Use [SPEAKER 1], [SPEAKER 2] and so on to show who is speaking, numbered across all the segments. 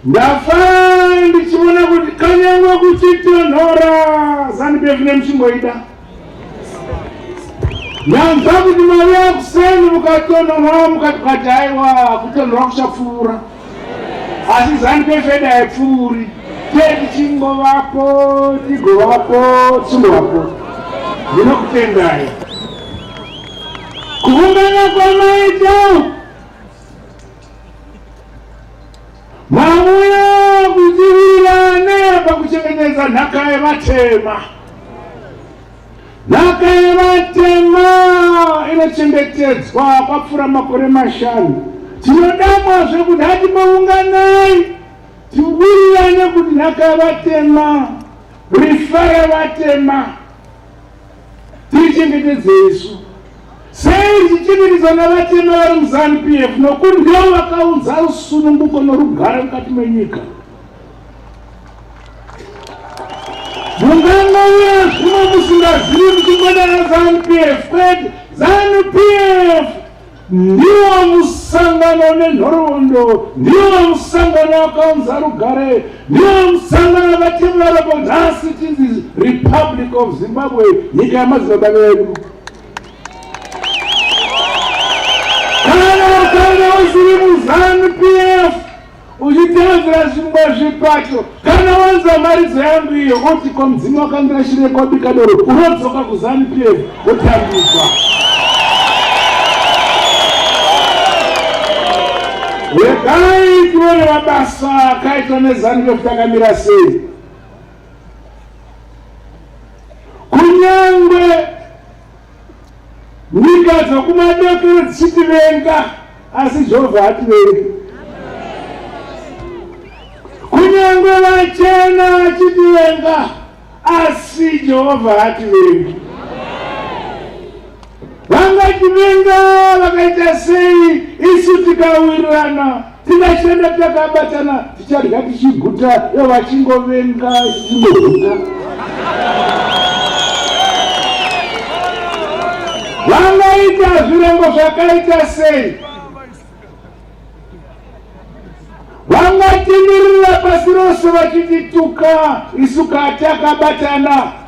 [SPEAKER 1] Ndafara ndichiona kuti kanyangwa kuchitonhora zanupf nemuchimboida nyanza kuti mauya kuseni mukatonhora mukati kati aiwa kutonhora kuchapfuura asi zanupf eda haipfuuri tee tichingovapo tigovapo tichingovapo ndinokutendai kuungana kwamaita Vauya kudzivirane pakuchengetedza nhaka yevatema. Nhaka yevatema inochengetedzwa kwapfuura makore mashanu. Tinodamwa zvekuti hati maunganai tiwirirane kuti nhaka yevatema rifare vatema Tichengetedze isu sei tichichengetedzwa navatema vari muZanu PF nokuti ndivo vakaunza rusununguko norugare mukati menyika. Mungangauya zvimwe musingazivi kuti mwana raZanu PF kwete ZanuPF Ndiwo musangano nenhoroondo, ndiwo musangano akaunza rugare, ndiwo musangano akativarapo nhasi tinzi Republic of Zimbabwe, nyika yamadzibaba vedu. Kana kana usiri muZanu PF uchitevedzera zvimwe zvipato kana wanza mharidzo yangu iyo oti ko mudzimu wakambira shire kwabika doro unodzoka kuzanu p f wotambidzwa regai tione mabasa akaitwa nezanu p f takamira sei kunyangwe Nyika dzokumadokero dzichitivenga, asi Jehovha hativengi. Kunyange vachena vachitivenga, asi Jehovha hativengi. Vangativenga vakaita sei isu tikawirirana? Tikashanda takabatana tichadya tichiguta ivo vachingovenga tichingohuta. Vangaita zvirango zvakaita sei? Vangatenderera pasi rose vachitituka isu kati akabatana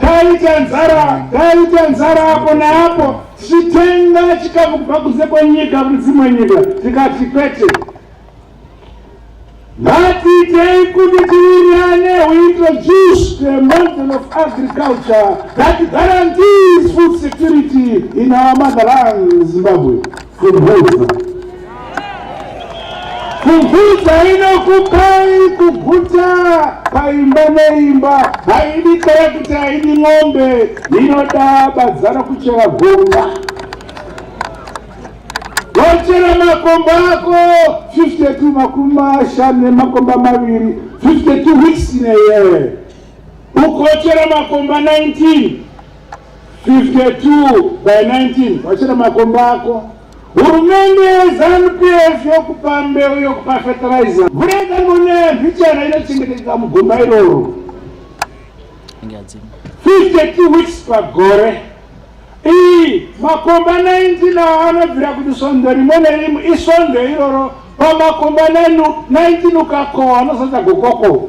[SPEAKER 1] Taita nzara, taita nzara apo neapo, tichitenga chikafu kubva kunze kwenyika kune dzimwe nyika, tikati kwete. Ngatiitei kuti tiwirirane we introduce the model of agriculture that guarantees food security in our motherland Zimbabwe. Kumbuza. Kuguta inokupai kuguta paimba neimba haidi kaya kuti haidi ng'ombe inoda badzana kuchera gomba wachera makomba ako 52 makumi mashanu nemakomba maviri 52 weeks in a year ukochera makomba 19 52 by 19 wachera makomba ako Hurumende yeZanu PF yokupa mbeu yokupa fertilizer. Mvura yakangoneya mbichana inochengetedza mugomba iroro. 52 weeks pagore. Iyi makomba 19 awo anobvira kuti svondo rimwe nerimwe isvondo iroro pamakomba 19 ukakohwa anozadza gokoko.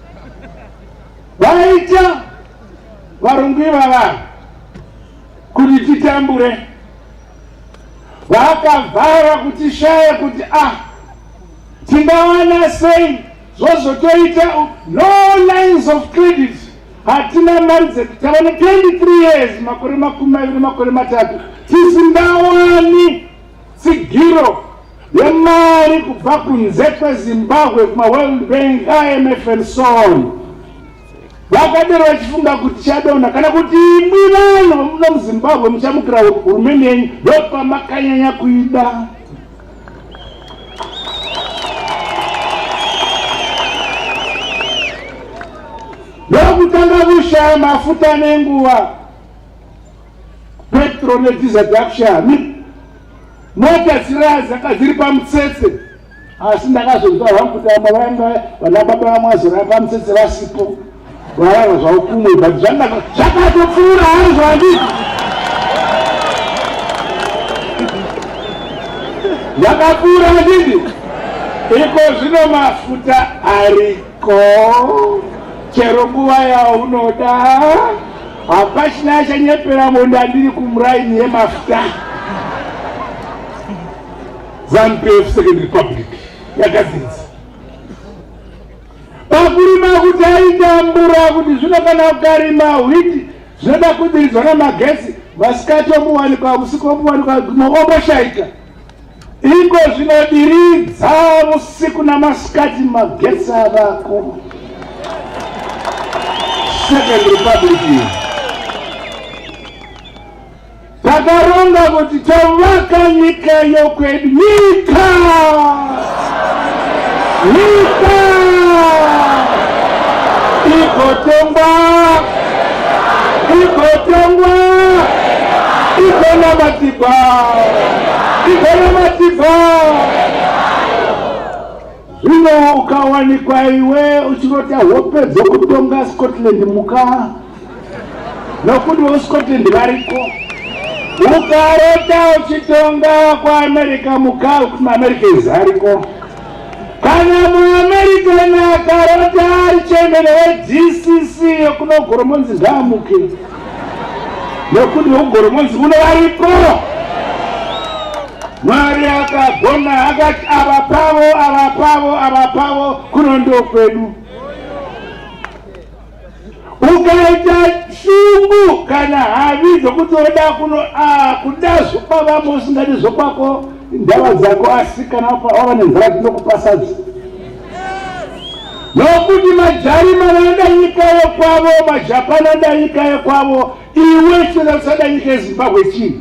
[SPEAKER 1] vaita varungu ivava kuti titambure vakavhara kuti shaya kuti ah tingawana sei zvozotoita no lines of credit hatina mari dzedu tava ne 23 years makore makumi maviri makore matatu tisingawani Tsigiro yemari kubva kunze kwezimbabwe kumaworld bank imf and so on vakadero vachifunga kuti chadona kana kuti imwi vanhu vamuda muzimbabwe muchamukira hurumende yenyu ndopamakanyanya kuida ndokutanga kushaya mafuta nenguva Petro nebhiza dzakushami mota dziradzaka dziri pamutsetse asi ndakazonzwa hangu kuti vamwe vainga vana baba vamwe vazorava pamutsetse vasipo varava zvavo kumwe but zvakatopfuura hari zvandii zvakapfuura ndidi iko zvino mafuta ari ko chero nguva yaunoda hapachina achanyepera mondo andiri kumuraini yemafuta zanupf second republic yakadzinza pakurima kuti aitambura kuti zvino kana ukarima hwiti zvinoda kudiridzwa namagesi masikati omuwanikwa usiku omuwanikwa guma omoshaika Iko zvinodiridza usiku namasikati magetsi avako. Second Republic iyi takaronga kuti tovaka nyika yokwedu nyika Nyika igotongwa, igotongwa, igonamatigwa, igonamatigwa. Zvino ukawanikwa iwe uchinoti hope dzokutonga Scotland muka nokuti voscotland variko ukarota uchitonga kuamerica mukau kuti muamerica izi ariko kana muamerican akarota ari chembere wedcc yokunogoromonzi ngaamuke nokuti vokugoromonzi kuno variko mwari akagona akati ava pavo ava pavo ava pavo kuno ndokwedu ukaita shungu kana havi dzokuti oda kuno ah, kuda zvokwavamo usingadi zvokwako ndava dzako asi kana wava nenzara tinokupasadza nokuti majarima vanoda nyika yekwavo majapani anoda nyika yekwavo iwe chinoda kusada nyika yezimbabwe chii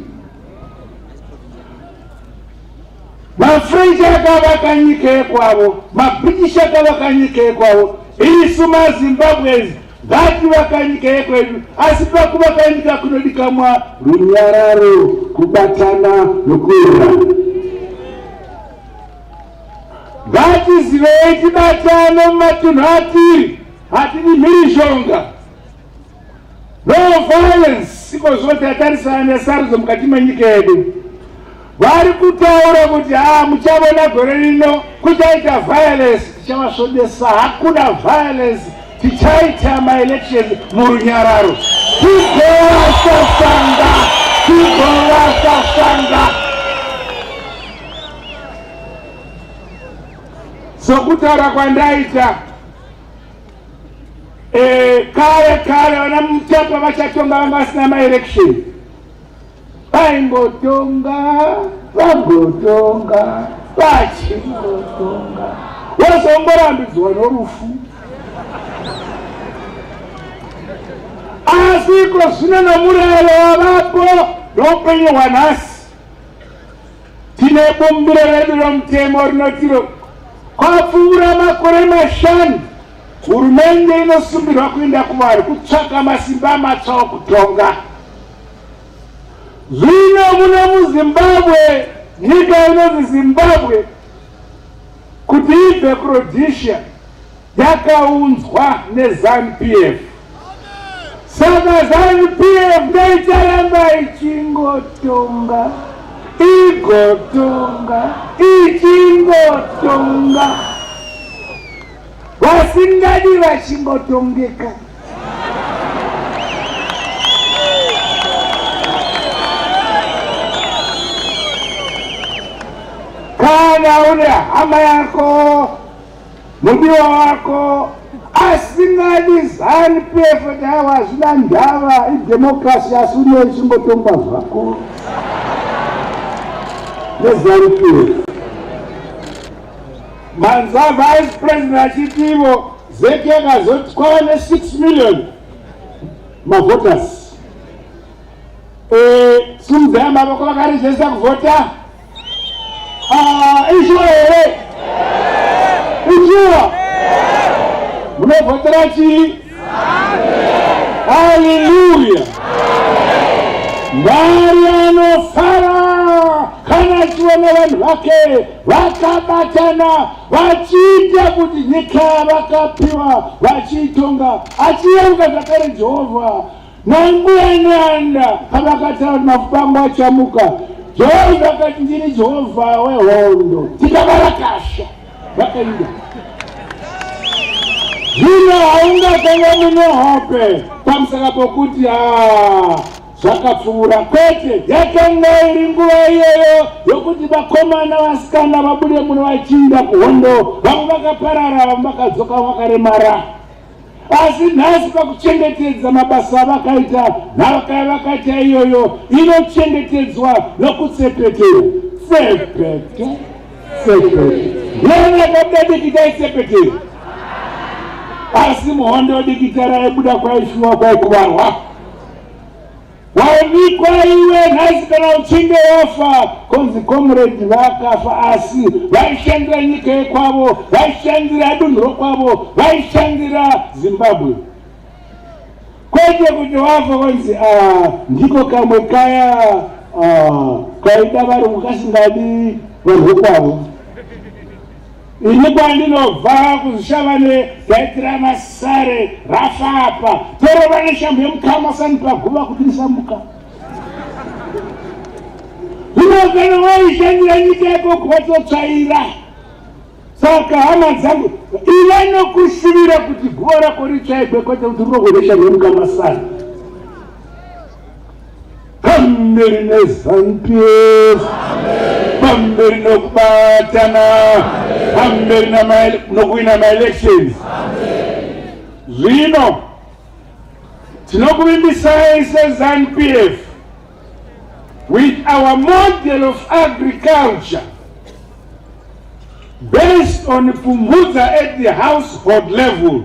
[SPEAKER 1] mafrench akavaka nyika yekwavo mabritish akavaka nyika yekwavo isu mazimbabwes ngativaka nyika yekwedu asi pakuvaka nyika kunodikamwa runyararo kubatana nokuera ngatizivei tibatane mumatunhu atiri hatidi mhirizhonga No violence iko zvino tatarisana nesarudzo mukati menyika yedu. Vari kutaura kuti haa ah, muchavona gore rino kuchaita violence, tichavasvodesa. Hakuna violence, tichaita maelection murunyararo. Tigovasasanga, tigovasasanga. Sokutaura kwandaita Eh, kare kare vana mutapa vachatonga vanga vasina maelection vaimbotonga vambotonga vachimbotonga vozomborambidzwa norufu asi iko zvino nomurayiro wavapo noupenyu hwanhasi Tine bumbiro redu romutemo rinotiro kwapfuura makore mashanu hurumende inosumbirwa kuenda kuvanhu kutsvaka masimba matsva okutonga zvino muno muzimbabwe nyika inonzi zimbabwe kuti ibve kurhodesia yakaunzwa neZanu-PF saka Zanu-PF ndaicharamba ichingotonga igotonga ichingotonga vasingadi vachingotongeka kana une hama yako Mudiwa wako asingadi zanu pefo chaiwo hazvina ndava idemokrasi asi unoyo chingotongwa zvako nezanu pefo manzwa vice president achiti ivo zeki yakazoti kwava ne6 million mavotas e, simudza yamavoko vakarejesta kuvhota Ah, izvo here uchiwa unovhotera chii haleluya mwari anofara kana achiona vanhu vake vakabatana vachiita kuti nyika vakapiwa vachiitonga achiyeruka zvakare jehovha Nambuya Nyanda pavakataura kuti mafumbangu achamuka, Joy vakati ndini Jehovha wehondo, tikabarakasha vakainda zvino haungatanga mune hope pamusaka pokuti ah, zvakapfuura kwete yakanga iri nguva iyoyo yokuti vakomana vasikana vabude muno vachinda kuhondo vamwe vakaparara vamwe vakadzoka vakaremara Asi nhasi pakuchengetedza mabasa avakaita, nhaka yavakaita iyoyo inochengetedzwa nokutsepetera. Tsepete, tsepete. Lero yakabuda dikita itsepetera. Asi muhondo dikita raibuda kwaishuwa kwaikuvarwa. Waonekwa iwe nhasi kana uchinge wafa konzi comrade vakafa asi vaishandira nyika yekwavo vaishandira dunhu rokwavo vaishandira zimbabwe kwete kuti wafa konzi ah, ndiko kamwe kaya ah, kaida varungu kasingadi vanhu vokwavo Ini kwandinobva kuzvishavane ndaitira masare rafapa torova neshambo yemukama sani paguva kuti ndisamuka unogara waishandira nyika yako kuwatotsvaira saka hama dzangu ive nokushuvira kuti guva rako ritsvaigwe kwete kuti rinogoresha nemukama sani pamberi nezanupf pamberi nokubatana pamberi nokuwina maelections zvino tinokuvimbisai sezanupf with our model of agriculture based on pfumvudza at the household level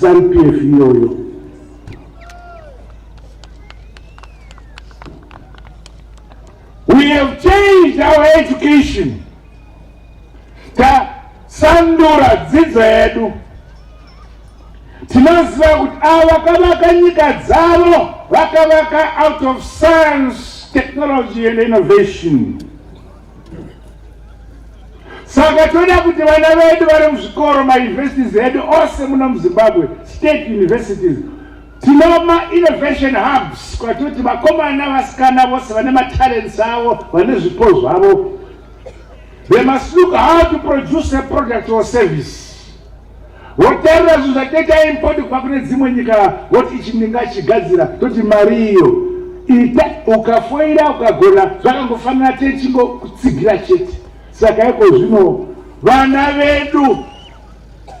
[SPEAKER 1] Zanupf iyoyo. We have changed our education. Tasandura dzidzo yedu. Tinoziva kuti ava vakavaka nyika dzavo vakavaka out of science, technology and innovation. saka toda kuti vana vedu vari muzvikoro mayunivhesiti edu ose muno muzimbabwe state universities tinoma innovation hubs kwatoti vakomana vasikana vose vane matalents avo vane zvipo zvavo they must look how to produce a product or service wotarira zvinhu zvateta import kubva kune dzimwe nyika woti ichi ndingachigadzira toti mari iyo ita ukafoira ukagona zvakangofanira techingo kutsigira chete saka iko zvino vana vedu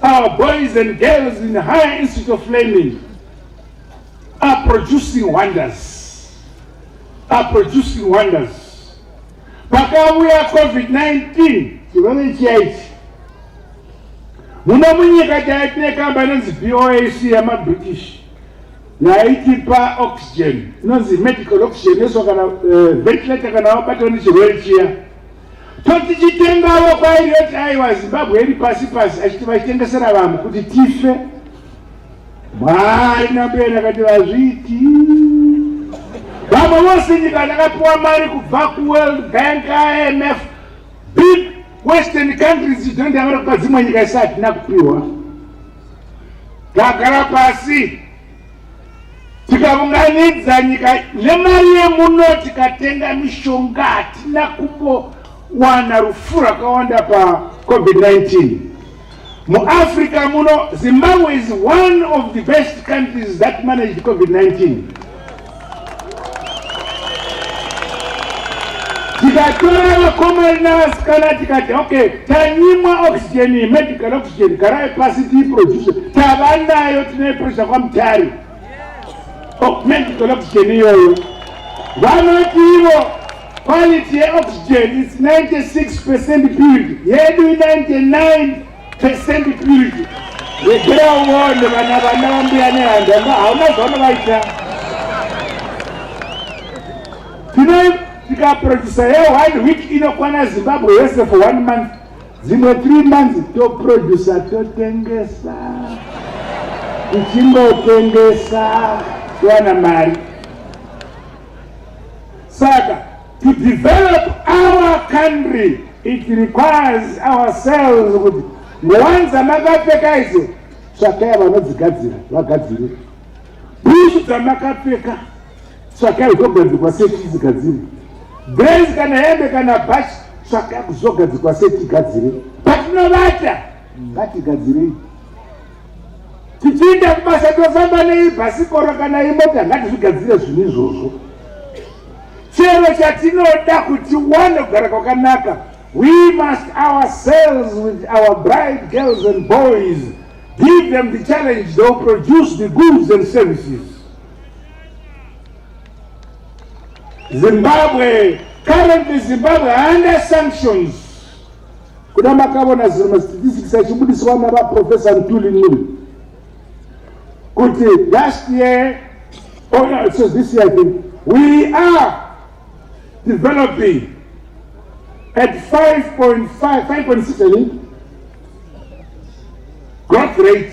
[SPEAKER 1] our boys and girls in higher institute of learning are producing wonders are producing wonders Pakauya COVID-19 chirwere chiya ichi muno munyika chaive tine kamba inonzi BOAC yamaBritish yaitipa oxygen inonzi medical oxygen eso kana eh, ventilator kana wabatwa nechirwere chiya totichitengawo kwairi yoti aiwa zimbabwe iri pasi pasi achiti vachitengesera vamwe kuti tife Mwari nambeni akati vazviti vamwe vose nyika dzakapiwa mari kubva kuworld bank imf big western countries dzidondavara kupa dzimwe nyika isati hatina kupiwa tagara pasi tikaunganidza nyika nemari yemuno tikatenga mishonga hatina kumbowana rufu rwakawanda pacovid 19 muafrica muno zimbabwe is one of the best countries that managed covid-19 tikatora vakomari navasikana tikati okay tanyimwa oxygen medical oxygen garai pasi tiiproduce tava nayo tine pressure kwamutari Augment oxygen iyoyo vanoti ivo quality yeoxygen is 96 percent purity yedu 99 percent purity regera uone vana vana vambuya nehanda hauna zvavanovaita tino tikaproducer yeone week inokwana zimbabwe yese for one month dzimwe three months toproducer totengesa tichingotengesa towana mari saka to develop our country it requires ourselves kuti ngowanza makapfeka idzo tsvakaya vanodzigadzira vagadzirire bhushu dzamakapfeka Tsvakai zvogadzikwa seti isigadzire. Grace kana hembe kana bhachi tsvakai kuzogadzikwa seti igadzire. Patinovata ngatigadzirei. Tichienda kubasa tofamba nei bhasikoro kana imota ngatizvigadzire zvinhu izvozvo. Chero chatinoda kuti wane kugara kwakanaka we must ourselves with our bride girls and boys give them the challenge they'll produce the goods and services. Zimbabwe, currently Zimbabwe under sanctions. Kuda makavona ziri mastatistics achibudiswa nava Professor Ntuli Nuli. Kuti last year, oh no, so this year I think, we are developing at 5.5, 5.6 I think, growth rate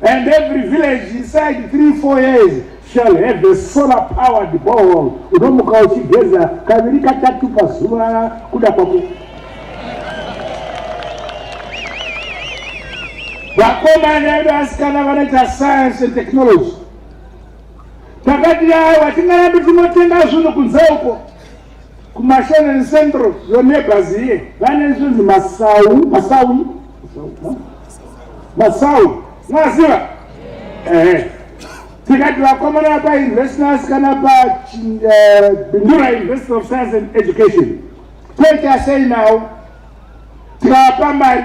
[SPEAKER 1] And every village inside 3 4 years shall have a solar powered borehole unomuka uchigeza kaviri katatu pazuva kuda kwaku vakomana edu asikana vanoita science and technology takati awa tingarambi tinotenga zvinhu kunze uko kuMashanani Central, your neighbors here, vane zvinzi masawu masawu masawu mwaziva ehe tikati vakomana vapauniversity vasikana pabindura eh, university of science and education toita sei nawo tikavapa mari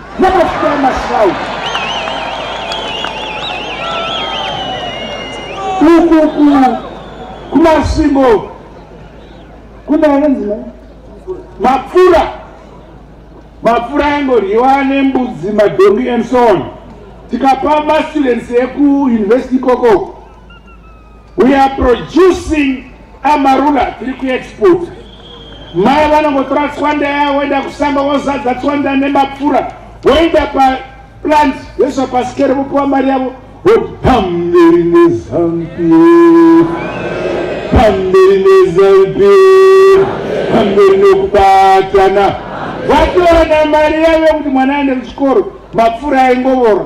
[SPEAKER 1] ukuku kumasvingo kunaenzi mapfura mapfura aingoryiwa nembudzi madhongi and so on tikapa mastudents ekuuniversity ikoko We are producing amarula tiri kuexport mai vanongotora tswanda yavo voenda kusamba vozadza tswanda nemapfura voenda paplant vesva pasikere vopiwa mari yavo vopamberi nezampi pamberi nezampi pamberi nekubatana vatoona mari yavo yekuti mwana aende kuchikoro mapfura aingovora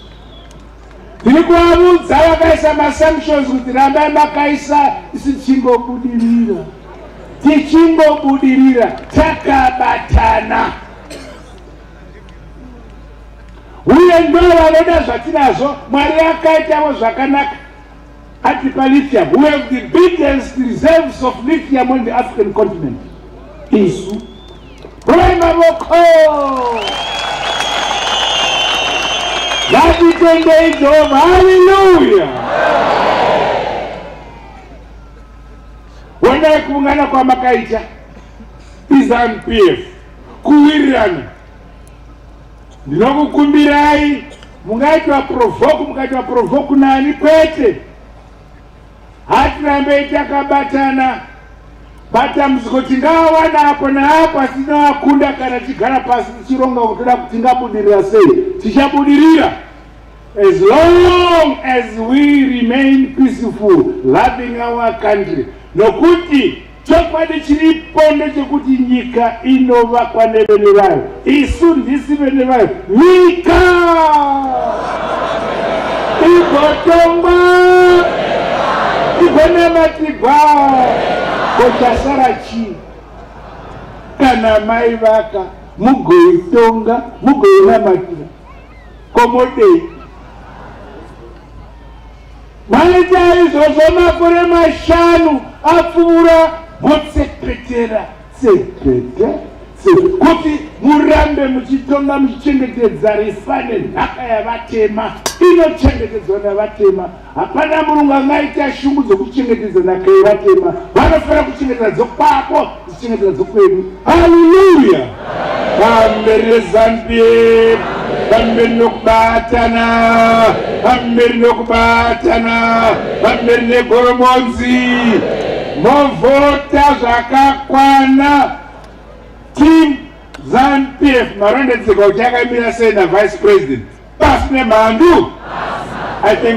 [SPEAKER 1] Tiri kuvaudza vakaisa masanctions kuti rambai makaisa isi tichingobudirira tichingobudirira takabatana uye ndo vanoda zvatinazvo mwari akaitavo zvakanaka Ati palithium we have the biggest reserves of lithium on the African continent. Isu Roy Mavoko ngatitendei Jehovha, haleluya! Wendai kuungana kwamakaita iZanu-PF kuwirirana, ndinokukumbirai Mungaitwa provoke mukaitwa provoke nani kwete. Hatirambe takabatana matambudziko tingawana apo naapo asi tinowakunda kana tichigara pasi tichironga kuti toda kuti tingabudirira sei tichabudirira as long as we remain peaceful loving our country nokuti Chokwadi chiripo ndechekuti nyika inovakwa nevene vayo, isu ndisi vene vayo. Nyika igotongwa igonamatigwa, kochasara chii? Kana maivaka mugoitonga mugoinamatira komodei Maita izvozvo makore mashanu apfuura motsepetera tsepete kuti murambe muchitonga muchichengetedza rifa nenhaka yavatema inochengetedzwa navatema hapana murungu angaita shungu dzokuchengetedza nhaka yevatema vanofanira kuchengetedza dzokwako Kuchengetera dzokwedu. Hallelujah. Pamberi reZanPF. Pamberi nokubatana. Pamberi nokubatana. Pamberi negoromonzi. Movota zvakakwana. Team ZanPF marondedzerwa kuti yakamira sei naVice President. Pasi nemhandu. I think